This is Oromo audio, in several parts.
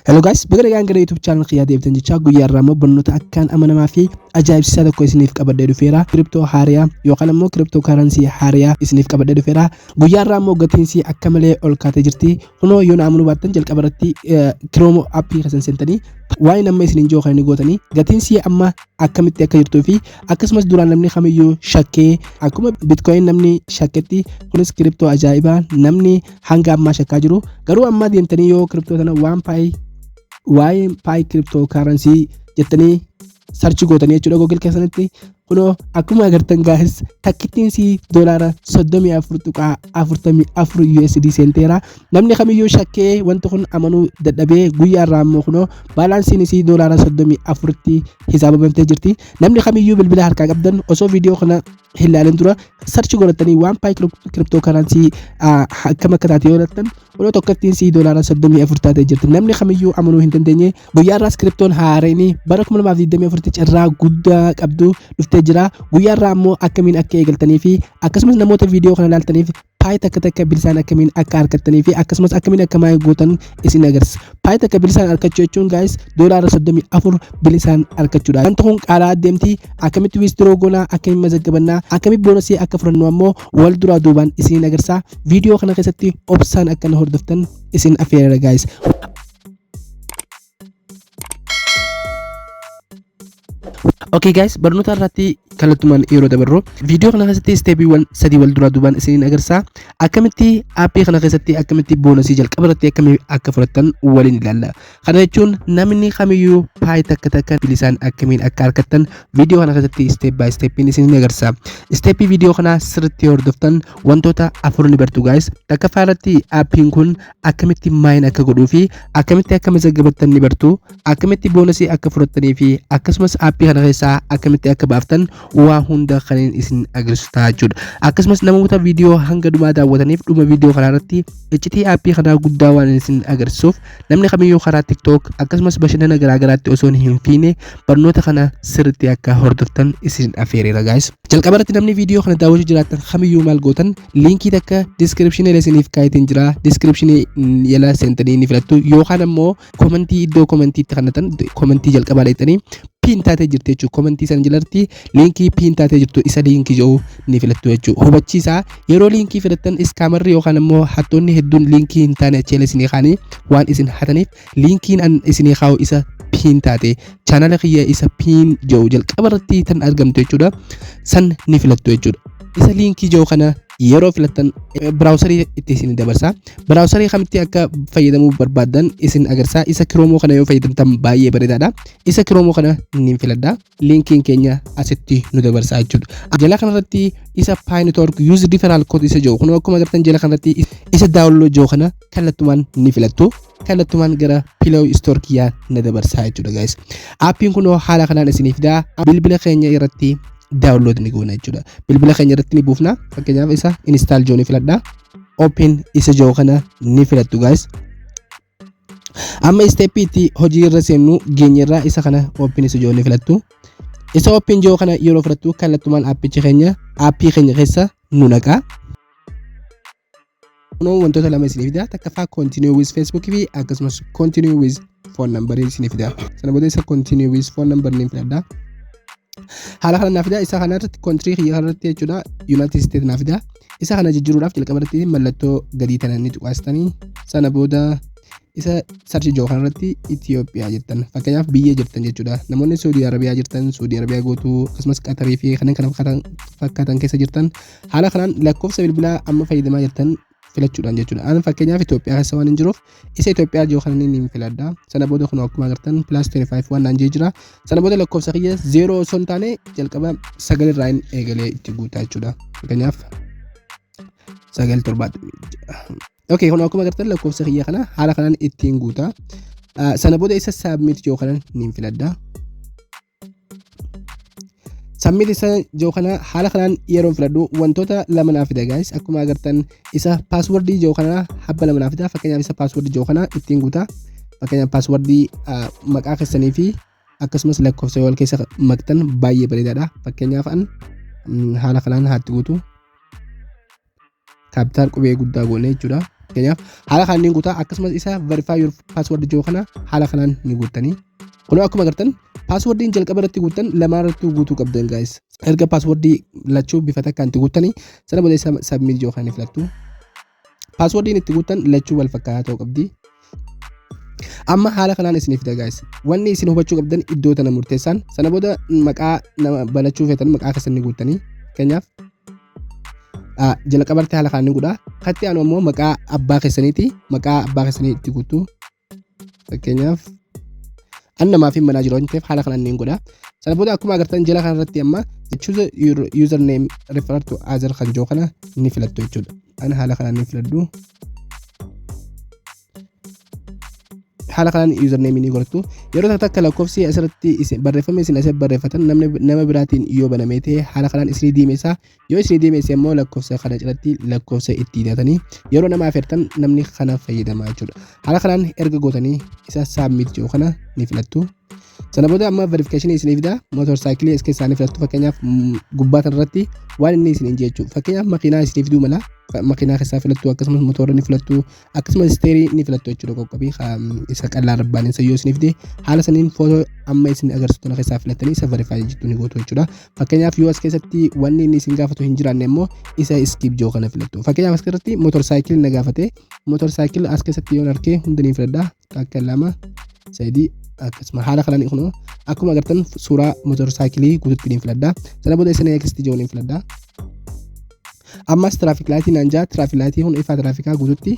Hello guys, baga nagaan gara YouTube channel kiyyaa deebitan jechaa guyyaa irraa immoo barnoota akkaan amanamaa fi ajaa'ibsiisaa tokko isiniif qabadhee dhufeera. Kiriptoo haariyaa yookaan immoo kiriptoo karansii haariyaa isiniif qabadhee dhufeera. Guyyaa irraa immoo gatiinsi akka malee ol kaatee jirti. Kunoo yoo na amanuu baattan jalqaba irratti kiroomo appii keessan seentanii waa'een amma isiniin jiru kan gootanii gatiinsi amma akkamitti akka jirtuu fi akkasumas duraan namni kamiyyuu shakkee akkuma bitcoin namni shakketti kunis kiriptoo ajaa'ibaa namni hanga ammaa shakkaa jiru garuu ammaa deemtanii yoo kiriptoo sana waan paayi waa'ee paayi kiriptoo kaaransii jettanii sarchi gootanii jechuudha googil keessanitti kunoo akkuma agartan gaahis takkittiin sii doolaara 34.44 USD seenteera namni kamiyyuu shakkee wanti kun amanuu dadhabee guyyaa irraa ammoo kunoo baalaansiin isii doolaara 34tti hisaabamtee jirti namni kamiyyuu bilbila harkaa qabdan osoo viidiyoo kana hin laalin dura sarchi godhatanii waan paay kiriptoo karansii akkam akka taate yoo laattan yeroo tokkottiin sii doolaara soddomii afur taatee jirti namni kamiyyuu amanuu hin dandeenye guyyaa irraas kiriptoon haareenii bara kuma lamaaf digdamii afuritti carraa guddaa qabdu dhuftee jira guyyaa irraa ammoo akkamiin akka eegaltanii fi akkasumas namoota viidiyoo kana laaltaniif paay takka takka bilisaan akkamiin akka argattanii fi akkasumas akkamiin akka maayii gootan isin agarsiisa. Paay takka bilisaan argachuu jechuun gaayis doolaara 34 bilisaan argachuudha. Wanti kun qaalaa adeemti akkamitti wiistiroo goonaa akkamiin mazaggabannaa akkamitti boonasii akka fudhannu ammoo wal duraa duubaan isin agarsiisa. Viidiyoo kana keessatti obsaan akka na hordoftan isin affeerera gaayis. Okay guys, barnoota irratti kallattumaan yeroo dabarru viidiyoo kana keessatti isteepiiwwan sadii wal duraa duubaan isiniin agarsiisa. Akkamitti aappii kana keessatti akkamitti boonasii jalqaba irratti akkamii akka fudhattan waliin ilaalla. Kana jechuun namni kamiyyuu paayii takka takka bilisaan akkamiin akka argattan viidiyoo kana keessatti isteep baay isteepiin isiniin agarsiisa. Isteepii viidiyoo kana sirriitti hordoftan wantoota afur ni bartu guys. Takkaffaa irratti aappiin kun akkamitti maayin akka godhuu fi akkamitti akka mazaggabattan ni bartu akkamitti boonasii akka fudhattanii fi akkasumas aappii kana keessaa akkamitti akka baaftan waa hunda kanin isin agarsiisu ta'a jechuudha akkasumas namoota viidiyoo hanga dhumaa daawwataniif dhuma viidiyoo kanaa irratti iccitii aappii kanaa guddaa waan isin agarsiisuuf namni kamiyyuu karaa tiktook akkasumas bashannana garaagaraatti osoo hin fiine barnoota kana sirriitti akka hordoftan isin afeereera gaayis jalqaba irratti namni viidiyoo kana daawwachuu jiraattan kamiyyuu maal gootan Liinkii takka description jala isiniif kaayetiin jira. Description jala seentanii ni filattu. Yookaan ammoo komentii iddoo komentii itti kannatan komentii jalqabaa dheettanii piin taatee jirti jechuudha. Komentii san jalatti liinkii piin taatee jirtu isa liinkii jedhu ni filattu jechuudha. Hubachiisa yeroo liinkii filattan iskaamarri yookaan ammoo hattoonni hedduun liinkii hin taane achi jala isinii kaanii waan isin hataniif Linkiin an isinii kaa'u isa piin taate chaanala kiyya isa piin jedhu jalqaba irratti tan argamtu jechuudha. San ni filattu jechuudha. Isa liinkii jedhu kana yeroo filattan biraawusarii itti isin dabarsa. Biraawusarii kamitti akka fayyadamuu barbaaddan isin agarsiisa. Isa kiroomoo kana yoo fayyadamtan baay'ee bareedaadha. Isa kiroomoo kana niin filadha. linkiin keenya asitti nu dabarsaa jechuudha. Jala kanarratti isa Pi Network Use Referral Code isa jiru kun akkuma agartan jala kanarratti isa download jiru kana kallattumaan ni filattu. Kallattumaan gara Play Store kiyyaa na dabarsaa jechuudha guys. Appiin kun haala kanaan isiniif fidaa bilbila keenya irratti download ni goona jechuudha. Bilbila keenya irratti ni buufna fakkeenyaaf isa install jiru ni filadha. Open isa jiru kana ni filattu guys. amma isteeppii itti hojii irra seennu geenyerraa isa kana oopin isa ijoollee filattu isa oopin ijoo kana yeroo filattu kallattumaan aappicha keenya aappii keenya keessa nu naqaa kunoo wantoota lama isinii fida takkaffaa continue with facebook fi akkasumas continue with phone number isinii fida sana booda isa continue with phone number niin filadha haala kana naaf fida isa kanarratti kontrii kiyya kanarratti jechuudha united state naaf fida Isa kana jijjiiruudhaaf jalqaba irratti mallattoo gadii tana ni tuqaastanii sana booda isa sarchi jiru kanarratti Itoophiyaa jettan fakkeenyaaf biyya jettan jechuudha namoonni Saudi Arabiyaa jirtan Saudi Arabiyaa gootuu akkasumas Qatarii fi kanneen kana fakkaatan- fakkaatan keessa jirtan haala kanaan lakkoofsa bilbilaa amma fayyadamaa jirtan filachuudhaan jechuudha. Ani fakkeenyaaf Itoophiyaa keessa waan hin jiruuf isa Itoophiyaa jiru kana ni filadha sana booda kun akkuma agartan plus 25 waan naan jee jira sana booda lakkoofsa kiyya 0 osoo hin taane jalqaba 9 irraa hin eegalee itti guutaa jechuudha fakkeenyaaf 9 7 Okay, kun akkuma agartan lakkoofsa kiyya kana haala kanaan ittiin guuta. Sana booda isa saabmiit yoo kanan niin filadha. Submit isa jiru kana haala kanaan yeroon filadhu wantoota lama naaf fida guys akkuma agartan isa paaswordii jiru kana habba lama naaf fida fakkeenyaaf isa paaswordii jiru kana ittiin guuta fakkeenyaaf paaswordii maqaa keessanii fi akkasumas lakkoofsa wal keessa maktan baay'ee bareedaadha fakkeenyaaf an haala kanaan haatti guutu kaappitaal qubee guddaa goone jechuudha. Fakkeenyaaf haala kanaan ni guutaa akkasumas isa verify your password jiru kana haala kanaan ni guuttanii. Kunoo akkuma agartan paaswordiin jalqaba irratti guuttan lamaan irratti guutuu qabdan gaa'is. Erga paaswordii lachuu bifa takkaan itti guuttanii sana booda isa sabmiit jiru kana ni filattu. Paaswordiin itti guuttan lachuu wal fakkaataa ta'uu qabdi. amma haala kanaan isiniif fida guys wanni isin hubachuu qabdan iddoo tana murteessaan sana booda maqaa nama banachuu feetan maqaa keessan ni guuttanii keenyaaf jalqabarti haala kanaan ni godha katti aanu ammoo maqaa abbaa keessaniiti maqaa abbaa keessanii itti guutu fakkeenyaaf an namaaf hin banaa jiru waan ta'eef haala kanaan ni godha sana booda akkuma agartan jala kanarratti amma choose your username refer to other kan jiru kana ni filattu jechuudha Ani haala kanaan ni filadhu. haala kanaan username ni godhattu yeroo takka takka lakkoofsi asirratti isin- barreeffamni isin asirratti barreeffatan namni nama biraatiin yoo banamee ta'e haala kanaan isinii deemessa yoo isinii deemesse immoo lakkoofsa kana jalatti lakkoofsa itti hidhatanii yeroo nama afeertan namni kana fayyadama jechuudha haala kanaan erga gootanii isa saabmiit jiru kana ni filattu Sana booda amma verification isinii fida motor cycle iska isaanii filattu fakkeenyaaf mm, gubbaa kanarratti waan inni isiniin jechu fakkeenyaaf makiinaa isinii fiduu mala Fa- makiinaa keessaa filattu akkasumas motora ni filattu akkasumas isteerii ni filattu jechuudha qoqqobii ka- mm, isa qal'aa rabbaaniin sayyoo isinii fide haala saniin footoo amma isin agarsiistu kana keessaa filattanii isa verify jettu ni gootu jechuudha fakkeenyaaf yoo as keessatti wanni inni isin gaafatu hin jiraanne immoo isa skip joo kana filattu fakkeenyaaf as keessatti motor cycle na gaafate motor cycle as keessatti yoon arke hundanii filadha takka lama sadii akkasuma haala kanaan kun akkuma agartan suuraa motor saayikilii guututti niin filadha sana booda isin akkasitti jiru niin filadha ammas tiraafik laayitii naan jaa tiraafik laayitii kun ifaa tiraafikaa guututti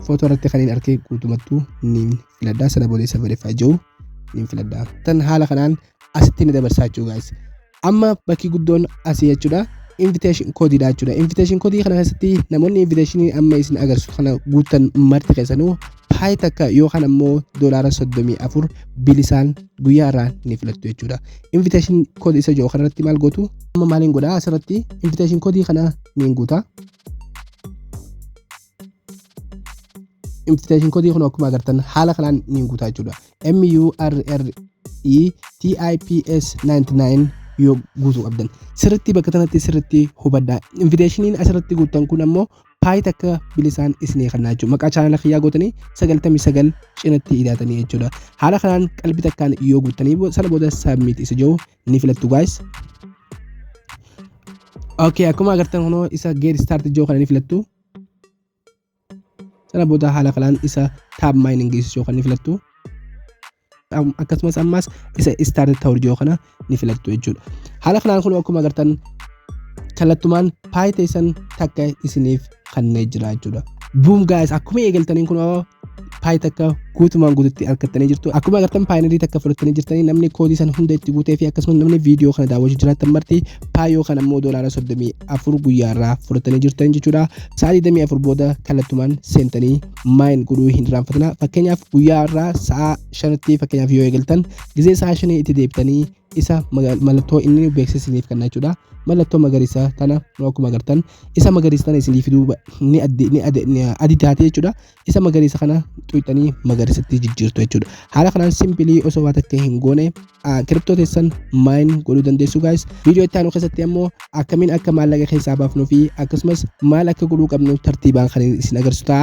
footoo irratti kan hin argee guutumattuu niin filadha sana booda isa verify jiru niin filadha tan haala kanaan asitti ni dabarsaa jechuu gaa'is amma bakki guddoon asii jechuudha invitation code dha jechuudha invitation code kana keessatti namoonni invitation amma isin agarsiisu kana guuttan marti keessanuu paay takka yookaan ammoo doolaara soddomii afur bilisaan guyyaa irraa ni filattu jechuudha invitation code isa jiru kanarratti maal gootu amma maaliin godha asirratti invitation code kana niin guuta invitation kodii kun akkuma agartan haala kanaan ni guutaa jechuudha MURRETIPS 99 yoo guutuu qabdan sirritti bakka kanatti sirritti hubadhaa invitationiin asirratti guuttan kun ammoo paayit akka bilisaan isinii kannaa jechuudha maqaa chaanala kiyyaa gootanii 99 cinatti hidhaatanii jechuudha haala kanaan qalbii takkaan yoo guuttanii sana booda saabmiit isa jiru ni filattu gaayis Okay, akkuma agartan kunoo isa geet start ijoo kana ni filattu Sana booda haala kanaan isa tab mining geessisuu kan ni filattu. Am- Akkasumas ammas isa start ta'u jiru kana ni filattu jechuudha. Haala kanaan kun akkuma agartan kallattumaan paayiteessan takka isiniif kannee jira jechuudha. Buum gaa'is akkuma eegaltaniin kun paay takka guutumaan guututti argattanii jirtu akkuma agartan paayinarii takka fudhattanii jirtanii namni koodii sana hunda itti guutee fi akkasumas namni viidiyoo kana daawwachuu jiraatan marti paay yookaan ammoo doolaara soddomii afur guyyaa irraa fudhattanii jirtan jechuudha sa'a digdamii afur booda kallattumaan seentanii maayin godhuu hin irraanfatina fakkeenyaaf guyyaa irraa sa'a shanatti fakkeenyaaf yoo eegaltan gizee sa'a shanii itti deebitanii isa mallattoo inni nu beeksise isiniif kenna jechuudha. Mallattoo magariisa tana nu akkuma agartan isa magariisa tana isinii fiduu ba- ni addi ni ade- ni adii taate jechuudha. Isa magariisa kana xuqxanii magariisatti jijjiirtu jechuudha. Haala kanaan simpilii osoo waa takka hin goone kiriptoo teessan maayin godhuu dandeessu gaayis. Viidiyoo itti aanu keessatti ammoo akkamiin akka maallaqa keessaa baafnuu fi akkasumas maal akka godhuu qabnu tartiibaan kan isin agarsiisu ta'a.